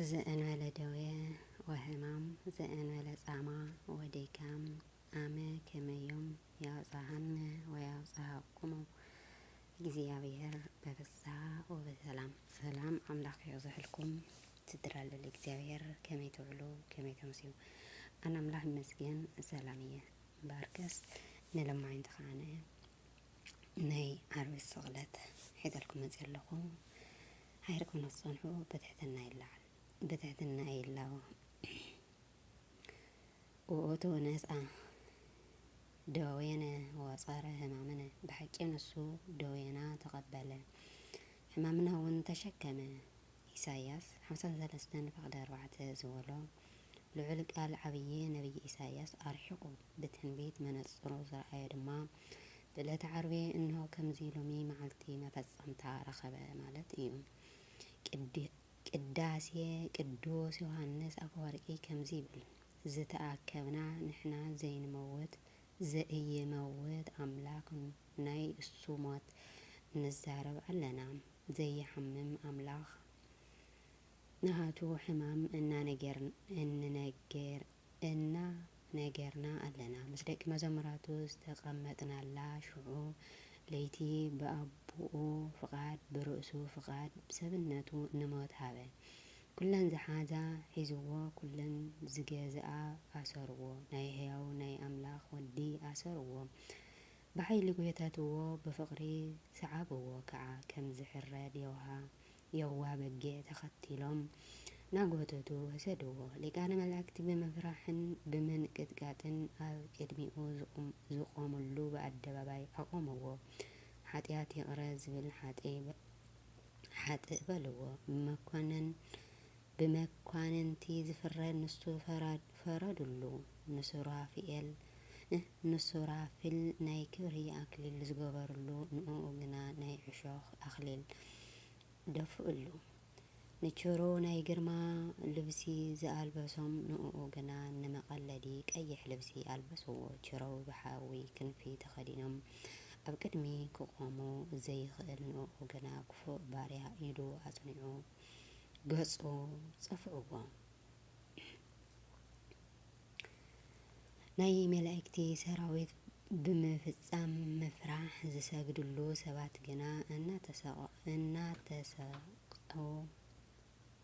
ዘእንበለ ደዌ ወሕማም ዘእንበለ ጻማ ወዲካም ኣመ ከመዮም ያብጽሐነ ወያብጽሐኩሙ እግዚኣብሔር በፍስሃ ወበሰላም። ሰላም ኣምላኽ ይብዝሕልኩም ስድራ ልል እግዚኣብሔር ከመይ ትውዕሉ ከመይ ተምስዩ ኣነ ኣምላኽ ይመስገን ሰላም እየ እምበኣርከስ ንለማኝ ተኸኣነ ናይ ዓርቢ ስቕለት ሒዘልኩም መፅእ ኣለኹ ሓይር ክነጸንሑ ብትሕትና ይለዓል ብትሕትና ይላቦ ውእቱ ነስኣ ደዌነ ወጸረ ሕማምነ ብሓቂ ንሱ ደዌና ተቀበለ ሕማምና እውን ተሸከመ ኢሳይያስ ሓምሳን ሰለስተን ፈቅደ ኣርባዕተ ዝበሎ ልዑል ቃል ዓብዪ ነብዪ ኢሳይያስ ኣርሒቑ ብትንቢት መነጽሩ ዝረኣዮ ድማ ብዕለተ ዓርቢ እንሆ ከምዚ ሎሚ መዓልቲ መፈጸምታ ረኸበ ማለት እዩ። ቅዳሴ ቅዱስ ዮሓንስ ኣፈወርቂ ከምዚ ይብል፣ ዝተኣከብና ንሕና ዘይንመውት ዘኢይመውት ኣምላኽ ናይ እሱ ሞት ንዛረብ ኣለና፣ ዘይሓምም ኣምላኽ፣ ናሃቱ ሕማም እናነገር እና ነገርና ኣለና ምስ ደቂ መዘምራቱ ዝተቀመጥናላ ሽዑ ለይቲ ብኣቡኡ ፍቃድ ብርእሱ ፍቃድ ብሰብነቱ ንሞት ሃበ ኩለን ዝሓዛ ሒዝዎ ኩለን ዝገዝኣ ኣሰርዎ ናይ ሕያው ናይ ኣምላኽ ወዲ ኣሰርዎ ብሓይሊ ጎተትዎ ብፍቅሪ ስዓብዎ ከዓ ከም ዝሕረድ የውሃ የዋ በጊዕ ተኸቲሎም ናጎተቱ ወሰድዎ። ሊቃነ መላእክቲ ብምፍራሕን ብምንቅጥቃጥን ኣብ ቅድሚኡ ዝቖምሉ ብኣደባባይ ኣቖምዎ። ሓጢኣት ይቕረ ዝብል ሓጥእ በልዎ። መኰንን ብመኳንንቲ ዝፍረድ ንሱ ፈራድ ፈረድሉ ንሱራፊኤል ንሱራፊል ናይ ክብሪ ኣክሊል ዝገበርሉ ንእኡ ግና ናይ ዕሾኽ ኣክሊል ደፍእሉ ንችሩ ናይ ግርማ ልብሲ ዝኣልበሶም ንእኡ ግና ንመቀለዲ ቀይሕ ልብሲ ኣልበስዎ ችሩ ብሓዊ ክንፊ ተከዲኖም ኣብ ቅድሚ ክቆሙ ዘይክእል ንእኡ ግና ክፉእ ባርያ ኢዱ ኣጽኒዑ ገጹ ጸፍዑዎ። ናይ መላእክቲ ሰራዊት ብምፍጻም ምፍራሕ ዝሰግድሉ ሰባት ግና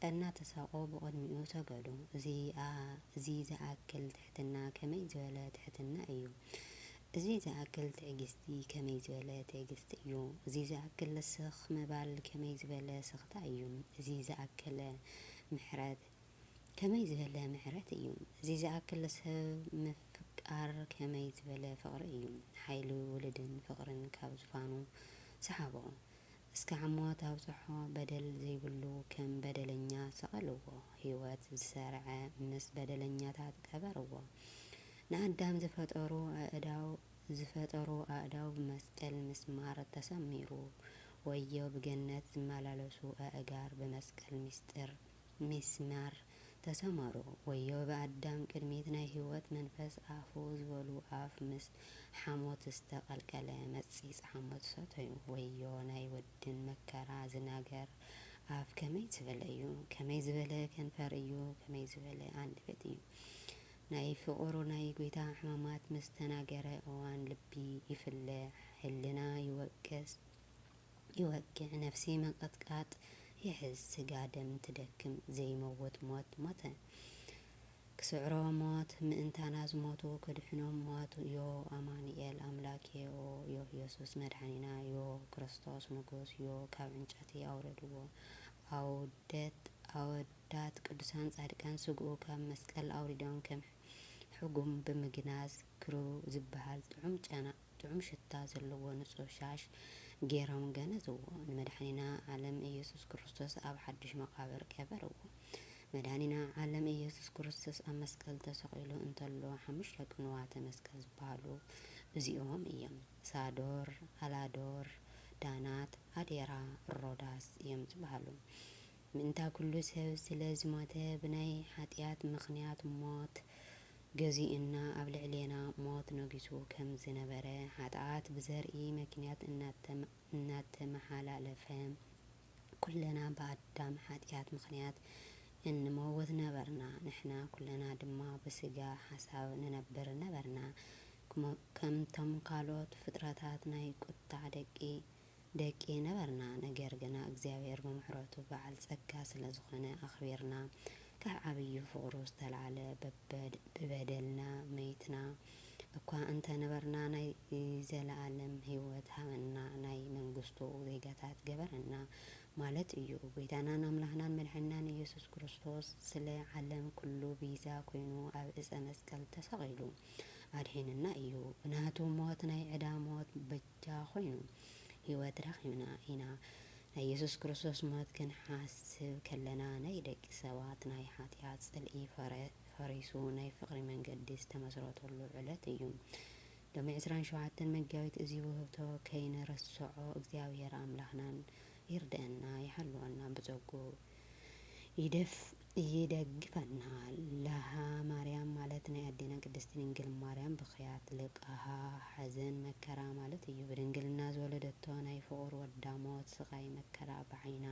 እናተሳቐ ብቕድሚኡ ሰገዱ። እዚ ዝኣክል ትሕትና ከመይ ዝበለ ትሕትና ኢዩ! እዚ ዝኣክል ትዕግስቲ ከመይ ዝበለ ትዕግስቲ እዩ! እዚ ዝኣክል ስኽ ምባል ከመይ ዝበለ ስኽታ እዩ! እዚ ዝኣክል ምሕረት ከመይ ዝበለ ምሕረት እዩ! እዚ ዝኣክል ሰብ ምፍቃር ከመይ ዝበለ ፍቕሪ እዩ! ሓይሊ ውሉድን ፍቕርን ካብ ዝፋኑ ሰሓቦ። እስከ ዓሞት ኣብጽሖ በደል ዘይብሉ ከም በደለኛ ሰቐልዎ ሂወት ዝሰርዐ ምስ በደለኛታት ቀበርዎ ንኣዳም ዝፈጠሩ ኣእዳው ዝፈጠሩ ኣእዳው ብመስቀል ምስማር ተሰሚሩ ወዮ ብገነት ዝመላለሱ ኣእጋር ብመስቀል ምስጢር ሚስማር ተሰመሩ ወዮ ብኣዳም ቅድሚት ናይ ህይወት መንፈስ ኣፉ ዝበሉ ኣፍ ምስ ሓሞት ዝስተ ቀልቀለ መጺጽ ሓሞት ሰተዩ ወዮ ናይ ወድን መከራ ዝናገር ኣፍ ከመይ ዝበለ እዩ ከመይ ዝበለ ከንፈር እዩ ከመይ ዝበለ ኣንደበት እዩ ናይ ፍቁሩ ናይ ጎይታ ሕማማት ምስ ተናገረ እዋን ልቢ ይፍለ ሕልና ይወቅስ ይወግዕ ነፍሲ ምንቕጥቃጥ ይሕዝ ስጋ ደም ትደክም ዘይመውት ሞት ሞተ ክስዕሮ ሞት ምእንታና ዝሞቱ ከድሕኖም ሞት ዮ ኣማኑኤል ኣምላኬ ኦ ዮ የሱስ መድሓኒና ዮ ክርስቶስ ንጉስ ዮ ካብ ዕንጨቲ ኣውረድዎ ኣውደት ኣወዳት ቅዱሳን ጻድቃን ስግኡ ካብ መስቀል ኣውሪዶም ከም ሕጉም ብምግናዝ ክሩ ዝበሃል ጥዑም ጨና ጥዑም ሽታ ዘለዎ ንጹህ ሻሽ ገይሮም ገነዝዎ። ንመድሓኒና ዓለም ኢየሱስ ክርስቶስ ኣብ ሓዱሽ መቓብር ቀበርዎ። መድሃኒና ዓለም ኢየሱስ ክርስቶስ ኣብ መስቀል ተሰቒሉ እንተሎ ሓሙሽተ ቅንዋተ መስቀል ዝበሃሉ እዚኦም እዮም። ሳዶር፣ ኣላዶር፣ ዳናት፣ ኣዴራ፣ ሮዳስ እዮም ዝበሃሉ። ምእንታ ኩሉ ሰብ ስለ ዝሞተ ብናይ ሓጢኣት ምኽንያት ሞት ገዚኡና ኣብ ልዕሌና ሞት ነጊሱ ከም ዝነበረ ሓጥኣት ብዘርኢ መኪንያት እናተመሓላለፈ ኩልና ብኣዳም ሓጥያት ምኽንያት እንመውት ነበርና ንሕና ኩልና ድማ ብስጋ ሓሳብ ንነብር ነበርና ከምቶም ካልኦት ፍጥረታት ናይ ቁጥዕ ደቂ ደቂ ነበርና ነገር ግና እግዚኣብሔር ብምሕረቱ በዓል ጸጋ ስለ ዝኾነ ኣኽቢርና ካብ ዓብዩ ፍቕሩ ዝተልዓለ ብበደልና መይትና እኳ እንተ ነበርና ናይ ዘለዓለም ሕይወት ሃበና ናይ መንግሥቱ ዜጋታት ገበረና ማለት እዩ ጐይታናን ኣምላኽናን መድሕንናን ኢየሱስ ክርስቶስ ስለ ዓለም ኩሉ ቤዛ ኮይኑ ኣብ ዕፀ መስቀል ተሰቒሉ ኣድሒኑና እዩ ብናቱ ሞት ናይ ዕዳ ሞት ደኣ ኮይኑ ህይወት ረኺብና ኢና። ናይ የሱስ ክርስቶስ ሞት ክንሓስብ ከለና ናይ ደቂ ሰባት ናይ ሓጢኣት ጽልኢ ፈሪሱ ናይ ፍቕሪ መንገዲ ዝተመስረተሉ ዕለት እዩ። ሎሚ ዕስራን ሸውዓተን መጋቢት እዚ ውህብቶ ከይንርስዖ እግዚኣብሄር ኣምላኽናን ይርደኣና ይሓልወና ብጸግኡ። ይደግፈናል ለሃ ማርያም ማለት ናይ ኣዴና ቅድስቲ ድንግል ማርያም ብኽያት ልቃሃ ሓዘን መከራ ማለት እዩ ብድንግልና ዝወለደቶ ናይ ፍቁር ወዳ ሞት ስቃይ መከራ ብዓይና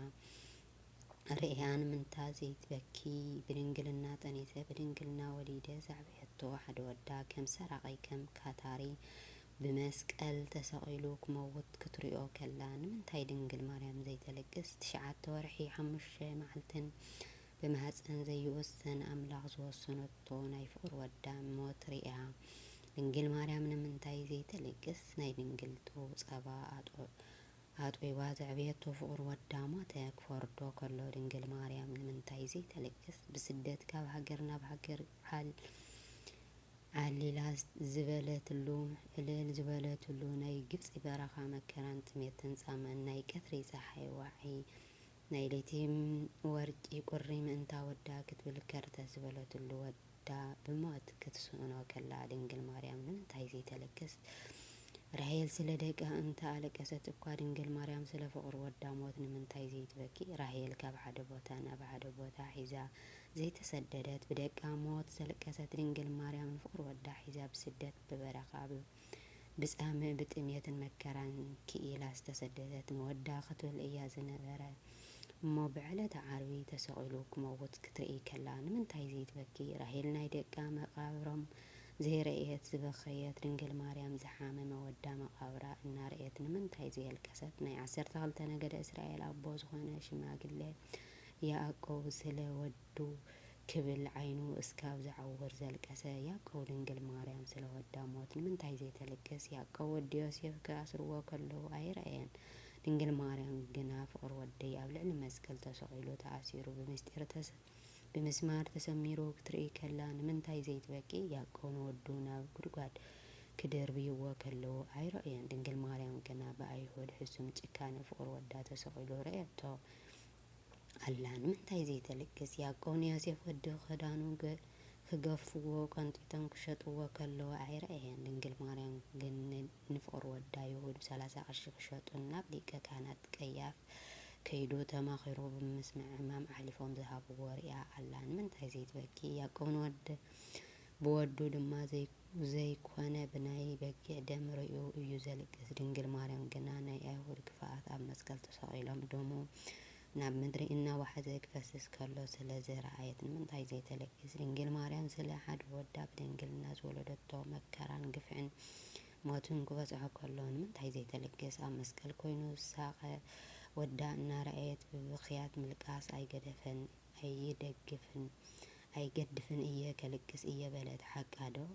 ርእያ ንምንታ ዘይትበኪ ብድንግልና ጠኒሰ ብድንግልና ወሊደ ዘዕበየቶ ሓደ ወዳ ከም ሰራቂ ከም ካታሪ ብመስቀል ተሰቒሉ ክመውት ክትሪኦ ከላ ንምንታይ ድንግል ማርያም ዘይተልቅስ? ትሽዓተ ወርሒ ሓሙሽተ መዓልትን ብማህጸን ዘይወሰን ኣምላኽ ዝወሰነቶ ናይ ፍቕሪ ወዳ ሞት ርእያ ድንግል ማርያም ንምንታይ ዘይተልቅስ? ናይ ድንግልቱ ጸባ ኣጥቢባ ዘዕበየቶ ፍቕሪ ወዳ ሞተ ክፈርዶ ከሎ ድንግል ማርያም ንምንታይ ዘይተልቅስ? ብስደት ካብ ሃገር ናብ ሃገር ዓል ዓሊላ ዝበለትሉ፣ ዕልል ዝበለትሉ፣ ናይ ግብጺ በረኻ መከራን ጥሜትን ጻምእን፣ ናይ ቀትሪ ጸሓይ ዋዒ፣ ናይ ለይቲ ወርቂ ቁሪ ምእንታ ወዳ ክትብል ከርተት ዝበለትሉ፣ ወዳ ብሞት ክትስእኖ ከላ ድንግል ማርያም ንምንታይ ዘይተለክስ? ራሄል ስለ ደቃ እንተ ኣለቀሰት እኳ ድንግል ማርያም ስለ ፍቕሪ ወዳ ሞት ንምንታይ ዘይትበኪ? ራሄል ካብ ሓደ ቦታ ናብ ሓደ ቦታ ሒዛ ዘይተሰደደት ብደቃ ሞት ዘልቀሰት ድንግል ማርያም ንፍቅሪ ወዳ ሒዛ ብስደት ብበረኻ ብጻምእ ብጥምየትን መከራን ኪኢላ ዝተሰደደት ንወዳ ክትብል እያ ዝነበረ እሞ ብዕለተ ዓርቢ ተሰቂሉ ክመውት ክትርኢ ከላ ንምንታይ ዘይትበኪ ራሄል ናይ ደቃ መቃብሮም ዘይረእየት ዝበከየት ድንግል ማርያም ዝሓመመ ወዳ መቃብራ እናረእየት ንምንታይ ዘየልቀሰት ናይ ዓሰርተ ክልተ ነገደ እስራኤል ኣቦ ዝኮነ ሽማግለ ያእቆብ ስለ ወዱ ክብል ዓይኑ እስካብ ዝዓውር ዘልቀሰ ያእቆብ ድንግል ማርያም ስለ ወዳ ሞት ንምንታይ ዘይተልቅስ ያእቆብ ወዲ ዮሴፍ ክኣስርዎ ከለዉ ኣይረኣየን ድንግል ማርያም ግና ፍቅር ወደይ ኣብ ልዕሊ መስቀል ተሰቂሉ ተኣሲሩ ብምስጢር ብምስማር ተሰሚሩ ክትርኢ ከላ ንምንታይ ዘይትበኪ ያእቆብ ንወዱ ናብ ጉድጓድ ክድርብይዎ ከለዉ ኣይረኣየን ድንግል ማርያም ግና ብኣይሁድ ሕሱም ጭካነ ፍቅር ወዳ ተሰቂሉ ረኣየቶ ኣላ ንምንታይ ዘይተልግስ ያቆብ ንዮሴፍ ወዱ ክዳኑ ክገፍዎ ቀንጢጦም ክሸጥዎ ከለዉ ኣይረኣየን ድንግል ማርያም ግን ንፍቅሪ ወዳ ይሁድ ብሰላሳ ቅርሺ ክሸጡን ናብ ሊቀ ካህናት ቀያፍ ከይዱ ተማኺሩ ብምስምዕማም ኣሕሊፎም ዝሃብዎ ሪኣ ኣላ ንምንታይ ዘይትበኪ ያቆብ ንወድ ብወዱ ድማ ዘይ ዘይኮነ ብናይ በጊዕ ደም ርእዩ እዩ ዘልቅስ ድንግል ማርያም ግና ናይ ኣይሁድ ክፍኣት ኣብ መስቀል ተሰቒሎም ደሙ ናብ ምድሪ እናዋሓዘ ክፈስስ ከሎ ስለ ዝረኣየት ንምንታይ ዘይተልቅስ ድንግል ማርያም ስለ ሓደ ወዳ ብድንግልና ዝወለደቶ መከራን ግፍዕን ሞትን ክበጽሖ ከሎ ንምንታይ ዘይተልቅስ ኣብ መስቀል ኮይኑ ዝሳቐ ወዳ እናረኣየት ብብኽያት ምልቃስ ኣይገደፈን ኣይደግፍን ኣይገድፍን እየ ከልቅስ እየ በለት ሓቃ ዶ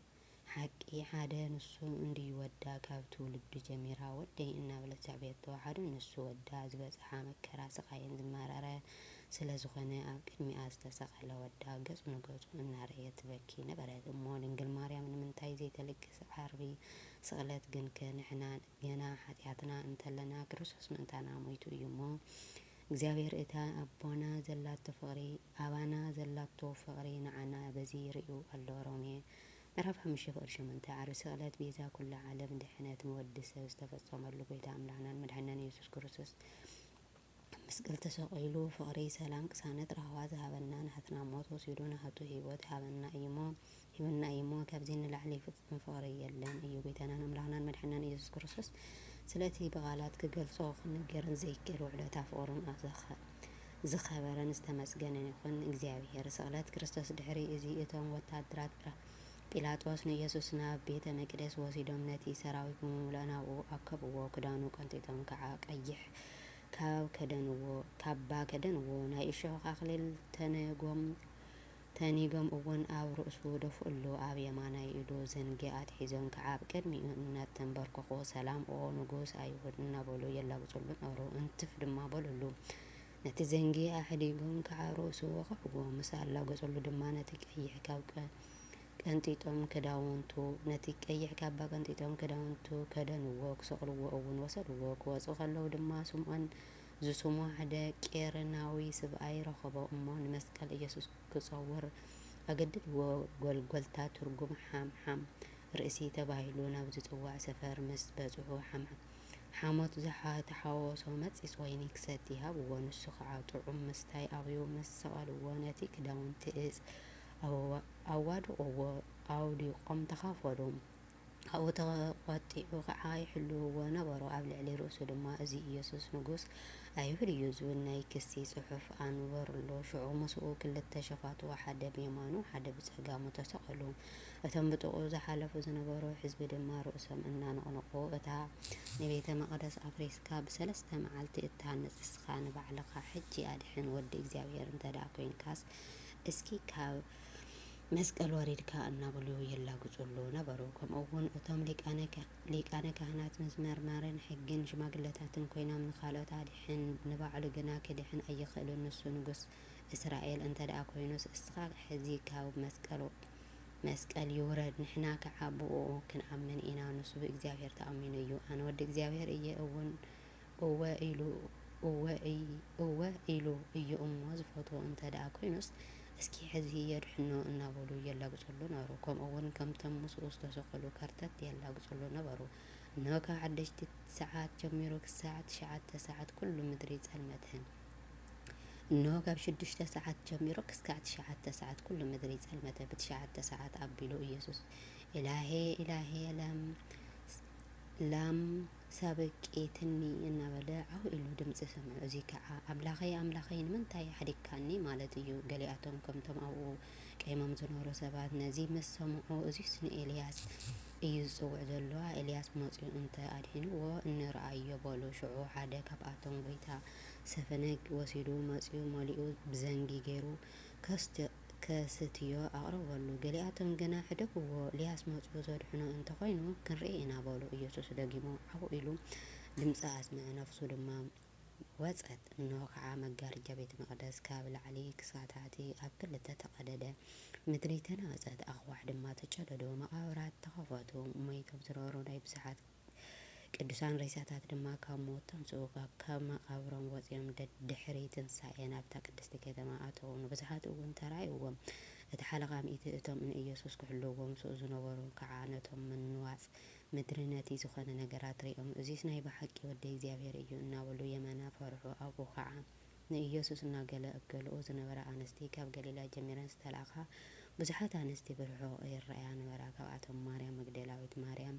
ሓቂ ሓደ ንሱ እንድዩ ወዳ ካብ ትውልዱ ጀሚራ ወደይ እናበለት ዘዕበየቶ ሓደ ንሱ ወዳ ዝበፀሓ መከራ ስቃይን ዝመረረ ስለ ዝኾነ ኣብ ቅድሚኣ ዝተሰቀለ ወዳ ገፁ ንገፁ እናረእየት ትበኪ ነበረት እሞ ድንግል ማርያም ንምንታይ ዘይተልቅስ ዓርቢ ስቅለት ግንከ ንሕና ገና ሓጢኣትና እንተለና ክርስቶስ ምእንታና ሞይቱ እዩ እሞ እግዚኣብሔር እታ ኣቦና ዘላቶ ፍቅሪ ኣባና ዘላቶ ፍቅሪ ንዓና በዚ ርእዩ ኣሎ ሮሜ ምዕራፍ ሓሙሽተ ፍቅሪ ሸሞንተ ዓርቢ ስቅለት ቤዛ ኩሉ ዓለም ድሕነት ንወዲ ሰብ ዝተፈጸመሉ ጎይታ ኣምላክናን መድሓኒናን ኢየሱስ ክርስቶስ ኣብ መስቀል ተሰቂሉ ፍቅሪ ሰላም ቅሳነት ራህዋ ዝሃበና ናህትና ሞት ወሲዱ ናህቱ ሂወት ይሃበና እዩሞ ሂቡና እዩሞ ካብዚ ንላዕሊ ፍጹም ፍቅሪ የለን እዩ ጎይታናን ኣምላክናን መድሕናን ኢየሱስ ክርስቶስ ስለ እቲ ብቃላት ክገልጾ ክንገርን ዘይክእል ውዕለታ ፍቅሩን ኣዘኸ ዝከበረን ዝተመስገነን ይኩን እግዚኣብሔር ስቅለት ክርስቶስ ድሕሪ እዚ እቶም ወታሃደራት ጲላጦስ ንኢየሱስ ናብ ቤተ መቅደስ ወሲዶም ነቲ ሰራዊት ብምምልኦ ናብኡ ኣከብዎ ክዳኑ ቀንጢጦም ከኣ ቀይሕ ካብ ከደንዎ ካባ ከደንዎ፣ ናይ እሾኽ ኣኽሊል ተንጎም ተኒጎም እውን ኣብ ርእሱ ደፍኡሉ፣ ኣብ የማናይ ኢዱ ዘንጊ ኣትሒዞም ከዓ ኣብ ቅድሚኡ እናተንበርከኹ ሰላም ኦ ንጉሥ ኣይሁድ እናበሉ የላግጹሉ ነበሩ። እንትፍ ድማ በሉሉ። ነቲ ዘንጊ ኣሕዲጎም ከዓ ርእሱ ወቕዕዎ። ምስ ኣላገጹሉ ድማ ነቲ ቀይሕ ካብ ቀንጢጦም ክዳውንቱ፣ ነቲ ቀይሕ ካባ ቀንጢጦም ክዳውንቱ ከደንዎ፣ ክሰቕልዎ እውን ወሰድዎ። ክወጹ ከለዉ ድማ ስምዖን ዝስሙ ሓደ ቂሬናዊ ስብኣይ ረኸቦ እሞ ንመስቀል ኢየሱስ ክጸውር ኣገድድዎ፣ ጎልጎልታ ትርጉም ሓምሓም ርእሲ ተባሂሉ ናብ ዝጽዋዕ ሰፈር ምስ በጽሑ ሓሞት ተሓወሶ መጺጽ ወይኒ ክሰቲ ሃብዎ ንሱ ኸኣ ጥዑም ምስታይ ኣብዩ ምስ ሰቐልዎ ነቲ ክዳውንቲ እጽ ኣዋድቕዎ፣ ኣውዲቖም ተኻፈሉ። ኣብኡ ተቖጢዑ ኸዓ ይሕልውዎ ነበሩ። ኣብ ልዕሊ ርእሱ ድማ እዚ ኢየሱስ ንጉሥ ኣይሁድ እዩ ዝብል ናይ ክሲ ጽሑፍ ኣንበሩሉ። ሽዑ ምስኡ ክልተ ሸፋቱ ሓደ ብየማኑ ሓደ ብጸጋሙ ተሰቐሉ። እቶም ብጥቕኡ ዝሓለፉ ዝነበሩ ሕዝቢ ድማ ርእሶም እናነቕነቑ እታ ንቤተ መቕደስ ኣፍሪስካ ብሰለስተ መዓልቲ እትሃንጽ ንስኻ ንባዕልኻ ሕጂ ኣድሕን ወዲ እግዚኣብሔር እንተደኣ ኮይንካስ እስኪ ካብ መስቀል ወሪድካ እናበሉ የላግጹሉ ነበሩ። ከምኡ'ውን እቶም ሊቃነ ካህናት ምስ መርማርን ሕግን ሽማግለታትን ኰይኖም ንኻልኦት ኣድሕን፣ ንባዕሉ ግና ኪድሕን ኣይኽእልን፣ ንሱ ንጉስ እስራኤል እንተደኣ ኰይኑስ፣ እስኻ ሕዚ ካብ መስቀል ይውረድ፣ ንሕና ከኣ ብእኡ ክንኣምን ኢና፣ ንሱ ብእግዚኣብሄር ተኣሚኑ እዩ፣ ኣነ ወዲ እግዚኣብሄር እየ እውን እወ ኢሉ እወ እይ እወ ኢሉ እዩ እሞ ዝፈትዎ እንተድኣ ኮይኑስ እስኪ ሕዚ የድሕኖ እናበሉ የላግጽሉ ነበሩ። ከምኡ'ውን ከምቶም ምስኡ ዝተሰቐሉ ከርተት የላግጽሉ ነበሩ። እንሆ ካብ ሓደሽቲ ሰዓት ጀሚሩ ክሳዕ ትሽዓተ ሰዓት ኩሉ ምድሪ ጸልመተ። እንሆ ካብ ሽዱሽተ ሰዓት ጀሚሩ ክሳዕ ትሽዓተ ሰዓት ኩሉ ምድሪ ጸልመተ። ብትሽዓተ ሰዓት ኣቢሉ ኢየሱስ ኢላሄ ኢላሄ ላም ላም ሳበቂትኒ እናበለ ዓው ኢሉ ድምጺ ሰምዑ። እዚ ከኣ ኣምላኸይ ኣምላኸይ ንምንታይ ሓዲግካኒ ማለት እዩ። ገሊኣቶም ከምቶም ኣብኡ ቀይሞም ዝነበሩ ሰባት ነዚ ምስ ሰምዑ እዚስ ንኤልያስ እዩ ዝጽውዕ ዘሎ ኣኤልያስ መጺኡ እንተ ኣድሒንዎ እንርኣዮ በሉ። ሽዑ ሓደ ካብኣቶም ጎይታ ሰፈነግ ወሲዱ መጺኡ መሊኡ ብዘንጊ ገይሩ ከስትዮ። ከስትዮ ኣቕረበሉ። ገሊኣቶም ግና፣ ሕደግዎ፣ እልያስ መጺኡ ዘድሕኖ እንተ ዀይኑ ክንርኢ ኢና በሉ። ኢየሱስ ደጊሙ ዓው ኢሉ ድምጺ ኣስምዐ፣ ነፍሱ ድማ ወጸት። እንሆ ኸኣ፣ መጋርጃ ቤተ መቕደስ ካብ ላዕሊ ክሳዕ ታሕቲ ኣብ ክልተ ተቐደደ፣ ምድሪ ተናወጸት፣ ኣኽዋሕ ድማ ተጨደዱ፣ መቓብራት ተኸፈቱ፣ ሞይቶም ዝነበሩ ናይ ብዙሓት ቅዱሳን ሬሳታት ድማ ካብ ሞት ተንሥኡ፣ ካብ መቓብሮም ወጺኦም ደድሕሪ ትንሣኤ ናብታ ቅድስቲ ከተማ ኣተዉ፣ ንብዙኃት እውን ተራእይዎም፣ እቲ ሓለቓ ሚእቲ እቶም ንኢየሱስ ክሕልውዎ ምሥኡ ዝነበሩ ከዓ ነቶም ምንዋጽ ምድሪ ነቲ ዝኾነ ነገራት ርእዮም እዙይስ ናይ ብሓቂ ወዲ እግዚኣብሔር እዩ እናበሉ የመና ፈርሑ ኣብኡ ከዓ ንኢየሱስ እናገለገለኡ ዝነበራ ኣንስቲ ካብ ገሊላ ጀሚረን ዝተላእካ ብዙኃት ኣንስቲ ብርሑቕ ይረኣያ ነበራ ካብኣቶም ማርያም መግደላዊት ማርያም